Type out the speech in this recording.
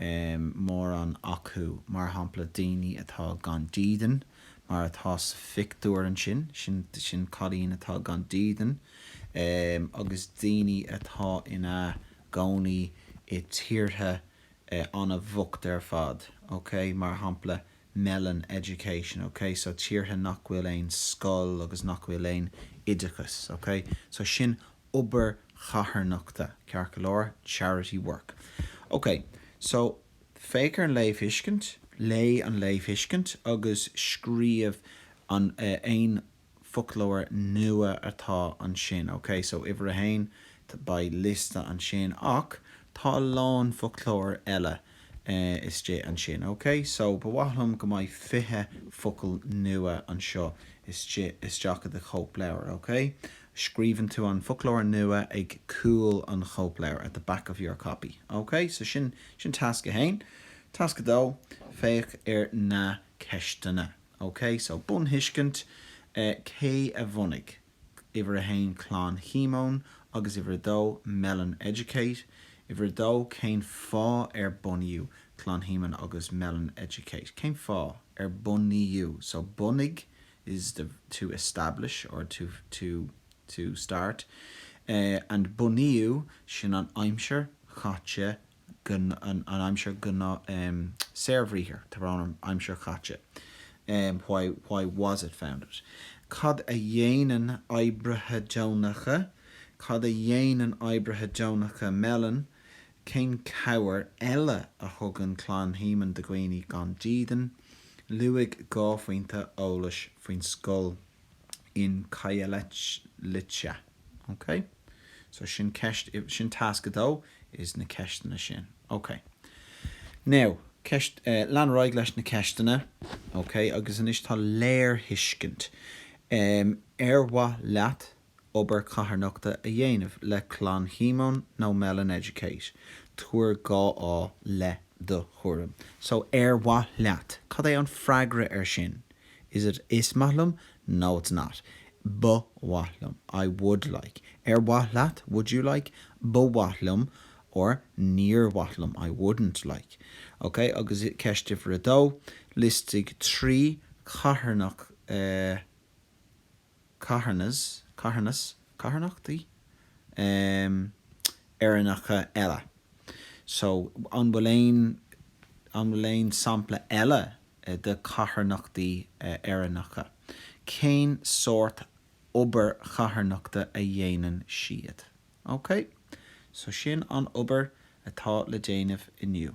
mórán acu, mar shampla, daoine atá gan dídean, mar atá sa phictiúr ansin, sin, sin cailín atá gan dídean, agus daoine atá ina gcónaí i tíortha an-bhocht ar fad, ok, mar shampla, Mellon Education, ok, so tíortha nach bhfuil aon scoil agus nach bhfuil aon oideachas, ok, so sin obair charthanachta, ceart go leor, charity work. Ok, so, féach ar an léamhthuiscint, léigh an léamhthuiscint agus scríobh an, eh, aon foclóir nua atá ansin, ok? So, uimhir a haon, beidh liosta ansin ach tá a lán foclóir eile. eh, istigh ansin, ok? So, ba mhaith liom go mbeidh fiche focal nua anseo istigh, isteach i do chóipleabhar, ok? Scríobhann tú an foclóir nua ag cúl an chóipleabhair, at the back of your copy, ok? So, sin, sin tasc a haon. Tasc a dó, féach ar na ceisteanna, ok? So, bunthuiscint, eh, cé a bhunaigh? Uimhir 1, Clann Shíomóin, agus Uimhir 2, Mellon Educate. Uimhir 2, Cén fáth ar bunaíodh Clann Shíomóin agus Mellon Educate? Cén fáth? Ar bunaíodh, so bunaigh is the, to establish or to, to, to start, eh, and bunaíodh, sin an aimsir chaite an aimsir gnáth, saorbhriathar, tá brón orm, aimsir chaite, why why was it founded? cad a dhéanann oibrithe deonacha cad a dhéanann oibrithe deonacha Mellon cén cabhair eile a thugann Clann Shíomóin do dhaoine gan dídean? Luaigh dhá phointe eolais faoin scoil. in Khayelitsha. Ok? So sin ceist, sin tasc 2, is na ceisteanna sin. Ok. Now, eh, lean ar aghaidh leis na ceisteanna. Ok, agus anois tá léirthuiscint. Em, ar mhaith leat obair charthanachta a dhéanamh le Clann Shíomóin nó Mellon Educate? Tabhair dhá fháth le do thuairim. So, ar mhaith leat. Cad é an freagra ar sin? Is it Is maith liom No it's not Ba mhaith liom I would like Ar mhaith leat? Would you like? Ba mhaith liom or Níor mhaith liom I wouldn't like Ok, agus ceist uimhir a dó, liostaigh trí charthanacht a. carthanas, carthanas, carthanachtaí? em. Éireannacha eile. So, an bhfuil aon, an bhfuil aon sampla eile de carthanachtaí Éireannacha? Cén sórt obair charthanachta a dhéanann siad? Ok? So, sin an obair atá le déanamh inniu.